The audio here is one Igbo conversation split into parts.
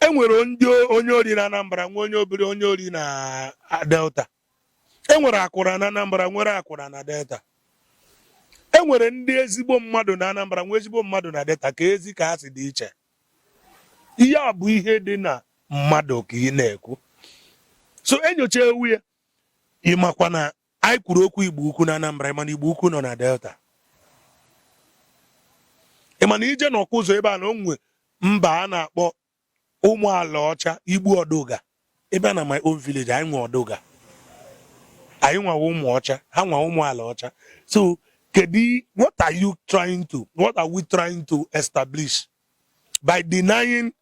e nwere ndị onye ori na Anambra nwee onye obere onye ori na Delta e nwere akwụra na Anambra nwere akwụra na Delta e nwere ndị ezigbo mmadụ na Anambra nwee ezigbo mmadụ na Delta keezi ka ha si dị iche ihe a bụ ihe dị na mmadụ ka ị na-ekwu so e nyochawe ya ị makwa na anyị kwuru okwu Igbo Ukwu na Anambra ị ma na Igbo Ukwu nọ na Delta ị ma na i jee na ụzọ ebe a na o nwee mba a na-akpọ ụmụ ala ọcha Igbo Ọdụga ebe a na my own village anyị nwe Ọdụga anyị nwawa ụmụ ọcha ha nwa ụmụ ala ọcha so kedu what are you trying to what are we trying to establish by denying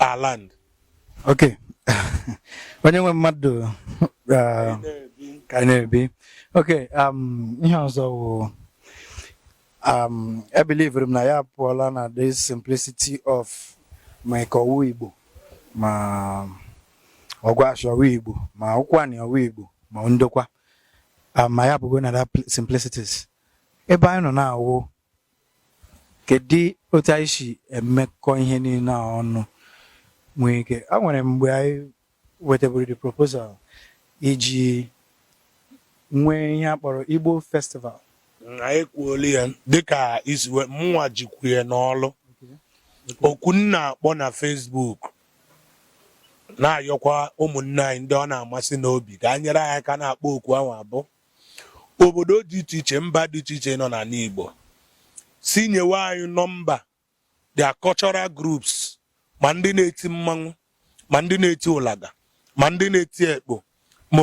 our land. Okay. onye nwe mmadụ uh, ka anyị na-ebi okay um, ihe ọzọ wụ um, ebelievere m na anyị apụọla na the simplicity of ma Ika ọ wụ Igbo ma Ọgwashi ọ wụ Igbo ma Ụkwani ọ wụ Igbo ma Ndokwa um, ma anyị apụgo na that pl- simplicities ebe anyị nọ now wụ Kedu otu anyị si emekọ ihe niile a ọnụ nwee ike o nwere mgbe anyị wetaburu the proposal iji nwee ihe a kpọrọ Igbo festival anyị kwuolu ya dịka i si wee mụnwa jikwu ya n'ọlụ oku m na-akpọ na Facebook na-ayọkwa ụmụnne anyị ndị ọ na-amasị n'obi ka a nyere anyị aka na-akpọ oku ahụ abụ obodo dị iche iche mba dị iche iche nọ n'ala Igbo sị nyewe anyị nọmba their cultural groups ma ndị na-eti mmanwụ ma ndị na-eti ụlaga ma ndị na-eti ekpo ma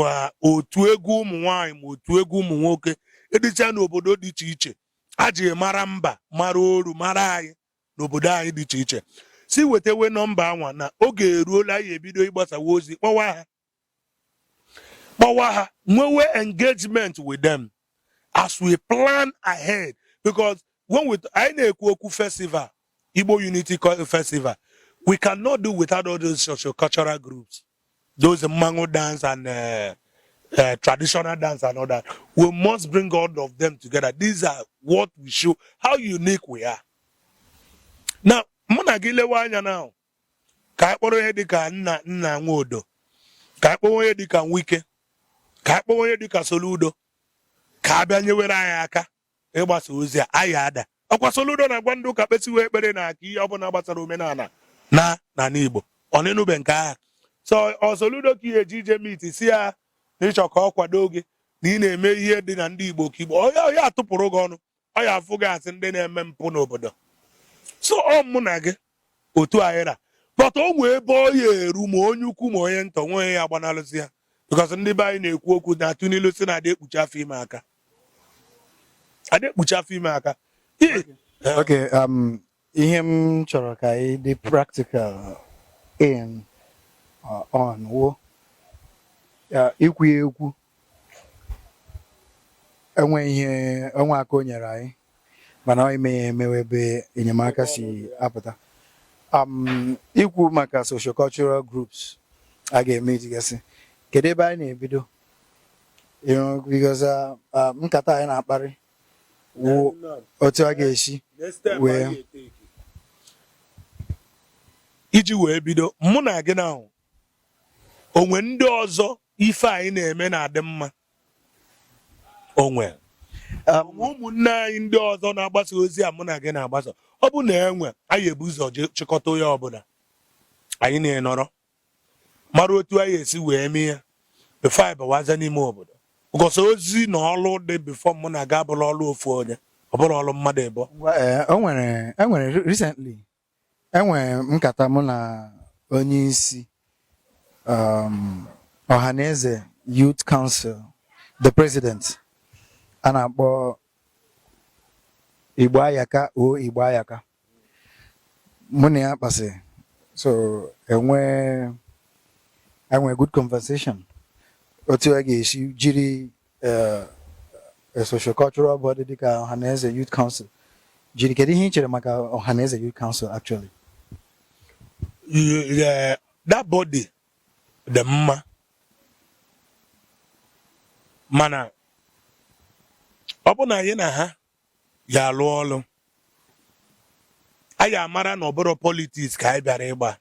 otu egwu ụmụ nwanyị ma otu egwu ụmụ nwoke dịcha n'obodo dị iche iche a ji mara mba mara oru mara anyị n'obodo anyị dị iche iche sị wetawe nọmba anwa na oge eruola anyị ebido ịgbasawa ozi kpọwa ha kpọwa ha nwewe engagement with them as we plan ahead because when we anyị na-ekwu okwu festival Igbo Unity Festival we cannot do without all those social cultural groups those mango dance and uh, uh, traditional dance and all that. We must bring all of them together. These are what we show, how unique we are. Now, Munagile Wanya now, ka anyị kpọrọ onye dịka Nnia Nwodo ka anyị kpọrọ onye dịka Nwike ka anyị kpọrọ onye dịka Soludo ka ha bịa nyewere anyị aka ịgbasa ozi a anyị adaa ọkwa Soludo na-agwa ndị ụka kpesiwe ekpere na aka ihe ọbụla gbasara omenala na n'ala Igbo ọ na-enube nke aha so ọ Soludo ka ị ya eje ije meet sị ya na ị chọ ka ọ kwado gị na ị na-eme ihe dị na ndị Igbo ka Igbo ọ ya atụpụrụ gị ọnụ ọ ya afụ gị as ndị na-eme mpụ n'obodo so ọ mụ na gị otu anyị ra but o nwee ebe ọ ya eru ma onye ukwu ma onye nta o nwee onye ya agbanalụzi ya because ndị be anyị na-ekwu okwu na-atụ n'ilu sị na adị ekpuchi afọ ime aka adị ekpuchi afọ ime aka Ị- Okay, um, ihe m chọrọ ka anyị dị practical in uh, on wo uh, ikwu ya ekwu enwe ihe enwe aka o nyere anyị mana ọ ime ya eme wụ ebe enyemaka si apụta um, ikwu maka sociocultural groups a ga-eme itigasị kedu ebe anyị na-ebido You know, because uh, uh, nkata anyị na-akparị wụ otu a ga-esi wee iji wee bido mụ na gị na-ahụ o nwere ndị ọzọ ife anyị na-eme na-adị mma o nwere um, ụmụnne anyị ndị ọzọ na-agbasa ozi a mụ na gị na-agbasa ọ bụ na enwe anyị ebu ụzọ chịkọta onye ọbụla anyị na ya nọrọ mara otu anyị esi wee mee ya before anyị bawaza n'ime obodo because ozi na ọlụ dị before mụ na gị abụrọ ọlụ ofu onye ọ bụrọ ọlụ mmadụ ịbụọ Ngwa, eh, o nwere e nwere re- recently e nwere nkata mụ na onye isi um, Ohanaeze Youth Council the president a na-akpọ Igboayaka O Igboayaka mụ na ya kpasị so e nwee e nwee good conversation otu a ga-esi jiri eh, eh, sociocultural body dịka Ohanaeze Youth Council jiri kedu ihe ị chere maka Ohanaeze Youth Council actually Yeah, that body dị mma mana ọ bụrụ na anyị na ha ya-alụ ọlụ anyị amara na ọ bụrọ politics ka anyị bịara ịgba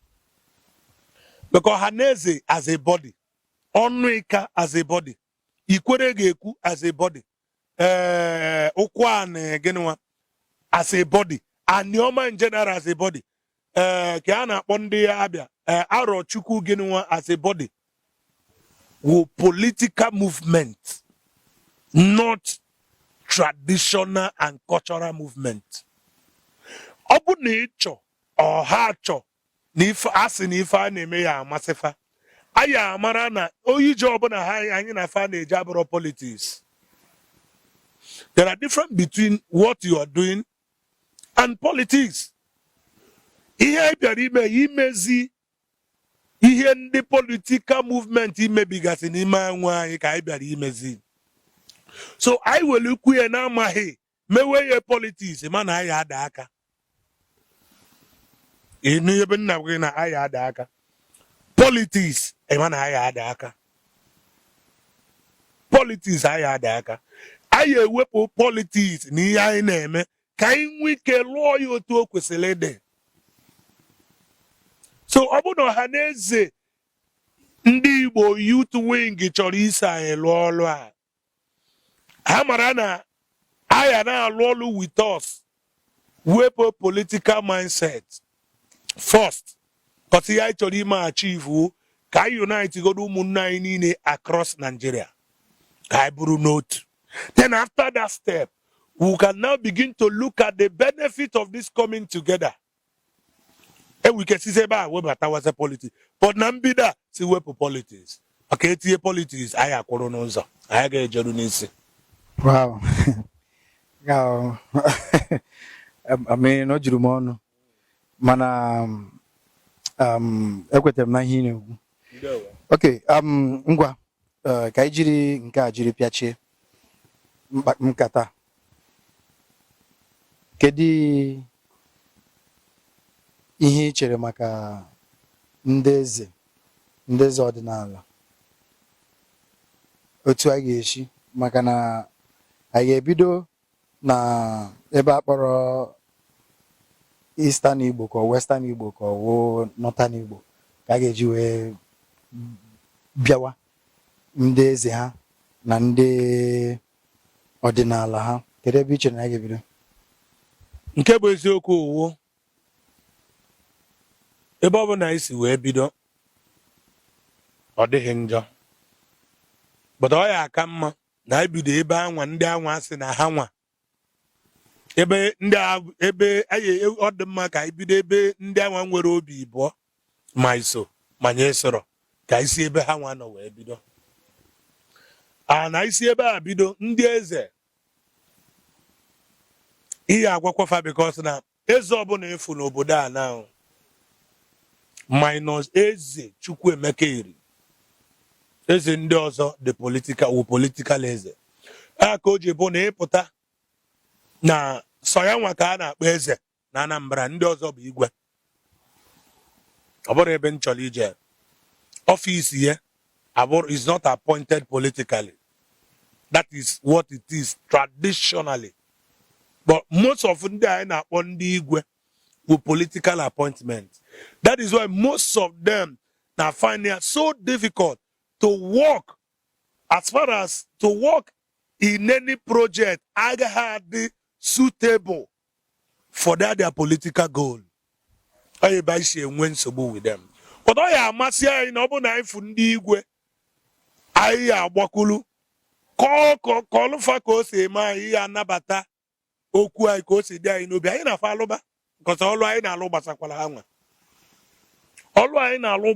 because Ohanaeze as a body Ọnụ Ịka as a body Ikwerre ga-ekwu as a body ee eh, Ụkwụanị gịnịwa as a body Anịọma in general as a body ee eh, ka a na-akpọ ndị Abịa ee eh, Arochukwu gịnịwa as a body wụ political movement not traditional and cultural movement ọ bụ na ị chọọ or ha chọọ na ife a sị na ife a na-eme ya-amasị fa anyị amara na ojije ọbụla ha anyị na fa na-eje abụrọ politics there are difference between what you are doing and politics ihe anyị bịara ime imezi ihe ndị political movement mebigasị n'ime onwe anyị ka anyị bịara imezi so anyị were ukwu ya na-amaghị mewe ya politics mana anyị ada aka ịnụ ebe nna gị na anyị ada aka politiks ịma na anyị ada aka politiks anyị ada aka anyị ewepụ politiks na ihe anyị na-eme ka anyị nwee ike lụọ ya otu o kwesịrị ịdị so ọ bụrụ na ọha na eze ndị igbo youth wing chọrọ iso anyị lụọ ọlụ a ha mara na a ya na-alụ ọlụ with us wepụ political mindset first cause ihe anyị chọrọ ime achieve wụ ka anyị unite godo ụmụnne anyị niile across Nigeria ka anyị bụrụ n'otu then after that step we can now begin to look at the benefit of this coming together e nwere ike sizi ebe a webatawaza politiks but na mbido a sị wepụ politiks maka e tinye politiks anyị akwụrụ n'ụzọ anyị agaghị ejeru n'isi wow I mean o juru m ọnụ mana um, um, ekwetara m na ihe ị na-ekwu okay um, ngwa Ee, ka anyị jiri nke a jiri pịachie mkpa- nkata a. kedu ihe ị chere maka ndị eze ndị eze ọdịnala otu a ga-esi maka na anyị ga-ebido na ebe a kpọrọ Eastern Igbo ka ọ Western Igbo ka ọ wụ Northern Igbo ka a ga-eji wee bịawa ndị eze ha na ndị ọdịnala ha kedu ebe i chere na a ga-ebido nke bụ eziokwu ọ wụ ebe ọ bụla anyị si wee bido ọ dịghị njọ but ọ ya-aka mma na anyị bido ebe anwa ndị anwa sị na ha nwa ebe ndị ebe anyị e, ọ dị mma ka anyị bido ebe ndị anwa nwere obi ibụọ ma iso ma nye soro ka anyị si ebe ha nwa nọ wee bido a na-esi ebe a bido ndị eze ihe agwakwa fa because na Eze ọbụla ị fụ n'obodo a now minus Eze Chukwuemeka Eri. Eze ndị ọzọ the political wụ political eze. Ya ka o ji bụ na ị pụta na sọ ya nwa ka a na-akpọ eze na Anambra ndị ọzọ bụ igwe. Ọ bụrụ ebe m chọrọ ije ọfịs ya Abụrọ is not appointed politically. That is what it is traditionally. But most of ndị anyị na-akpọ ndị igwe with political appointment. That is why most of them now find it so difficult to work as far as to work in any project agaghị adị suitable for their their political goal ọ ya ebe anyị si enwe nsogbu with them but ọ ya amasị anyị na ọ bụrụ na anyị fụ ndị igwe anyị ya agbakwulu kọlụ fa ka o si eme anyị ya anabata okwu anyị ka o si dị anyị n'obi anyị na fa alụba cos ọlụ anyị na-alụ gbasakwara ha nwa ọlụ anyị na-alụ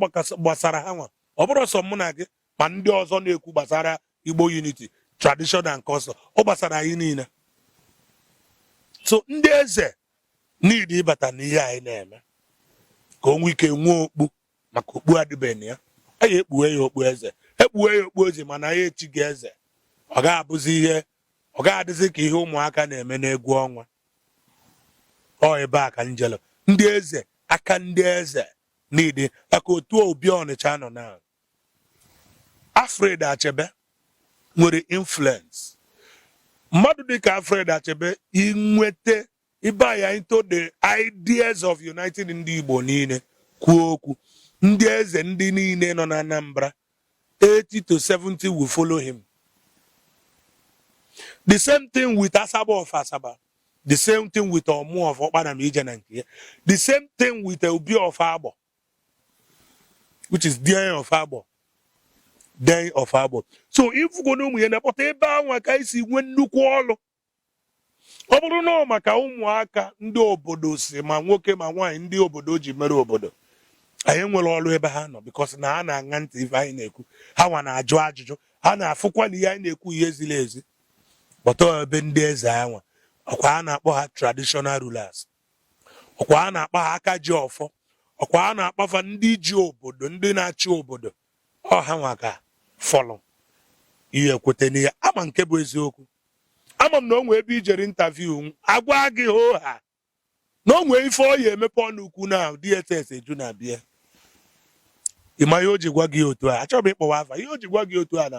gbasara ha nwa ọ bụrọ sọ mụ na gị ma ndị ọzọ na-ekwu gbasara Igbo unity tradition and culture ọ gbasara anyị niile so ndị eze niile ịbata n'ihe anyị na-eme ka o nwee ike nwee okpu maka okpu adịbeghị ya anyị ekpuwe ya okpu eze ekpuwe ya okpu eze mana anyị echighị ya eze ọ ga-abụzi ihe ọ ga-adịzi ka ihe ụmụaka na-eme n'egwu ọnwa ọ ebe a ka njele ndị eze aka ndị eze niile maka otu Obi Ọnịcha nọ na Alfred Achebe nwere influence mmadụ dịka Alfred Achebe inweta ịba ya into the ideas of united ndị Igbo niile kwuo okwu ndị eze ndị niile nọ na Anambra 80 to 70 will follow him the same thing with Asagba of Asaba the same thing with Omu of Okpanam ije na nke ya the same thing with Obi of Agbor which is Dein of Agbor Dein of Agbor so ịfụgo na ụmụnna but ebe anwa ka anyị si nwee nnukwu ọlụ ọ bụrụ na ọ maka ụmụaka ndị obodo si ma nwoke ma nwaanyị ndị obodo ji mere obodo anyị enwerọ ọrụ ebe ha nọ because na ha na-aṅa ntị ife anyị na-ekwu ha nwa na-ajụ ajụjụ ha na-afụkwa na ihe anyị na-ekwu ihe ziri ezi but ebe ndị eze anwa ọkwa a na-akpọ ha traditional rulers ọkwa a na-akpọ ha aka ji ọfọ ọkwa a na-akpọ fa ndị ji obodo ndị na-achị obodo ọ ha nwa ka fọlụ ikweta n'ihe a ma nke bụ eziokwu ama m na o nwee ebe ijere interview agwa gị hoo ha na o nwee ife ọ ya emepe ọnụ kwuo na DSS eju na bịa ịma ihe o ji gwa gị otu a achọghị m ịkpọwa afa ihe o ji gwa gị otu a na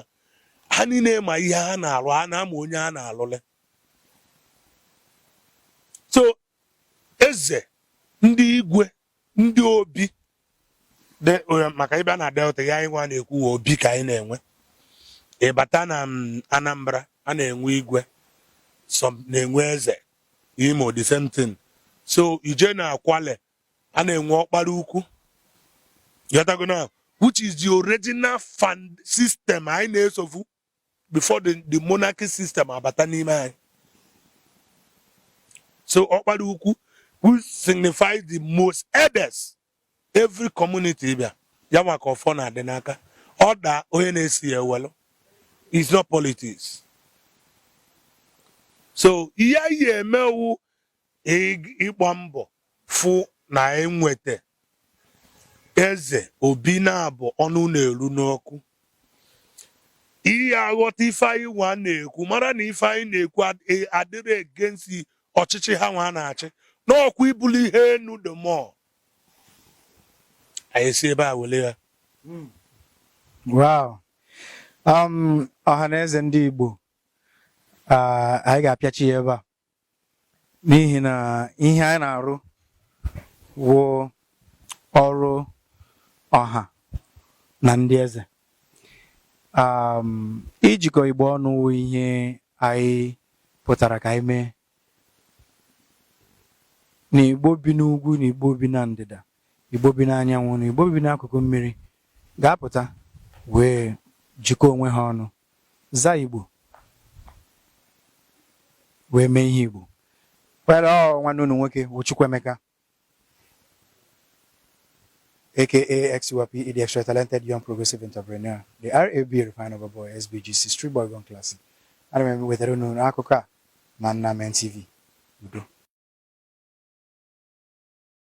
ha niile ma ihe ha na-alụ ha na-ama onye ha na-alụlụ so eze ndị igwe ndị obi eh, maka ịbịa na delta ya anyị nwa na-ekwu obi ka anyị na-enwe ịbata na mm, anambra a na-enwe igwe some na-enwe eze imo the same thing so ije na Kwale a na-enwe ọkpara ukwu ị ghọtago na which is the original ọfọ system anyị na-esofu before the, the monarchy system abata n'ime anyị so ọkpara ukwu who signifies the most eldest every community ị bịa ya nwa ka ọfọ na-adị n'aka ọ daa onye na-eso ya ewelụ it's not politics so ihe anyị emewu ịgba mbọ fụ na enweta eze obi na-abụ ọnụ na-eru n'okwu ị ya aghọta ife anyị nwa na-ekwu mara na ife anyị na-ekwu e, adịrọ against ọchịchị ha nwa na-achị n'ọkwa ibuli ihe enu the more anyị si ebe a wele ya hmm. wow um, ọha na eze ndị Igbo ah, anyị ga-apịachi ya ebe a n'ihi na ihe anyị na-arụ wụ ọrụ ọha na ndị eze um, ijikọ igbo ọnụ wụ ihe anyị pụtara ka anyị mee na igbo bi n'ugwu na igbo bi na ndịda Igbo bi n'anyanwụ na Igbo bi n'akụkụ mmiri ga-apụta wee jikọọ onwe ha ọnụ zaa Igbo wee mee ihe Igbo kwere ọ nwanne unu nwoke bụ Chukwuemeka aka XTYPE the extra talented young progressive entrepreneur the RAB refined boy SBGC street boy gone classic ana m ewetara unu akụkọ a na Nnamen TV udo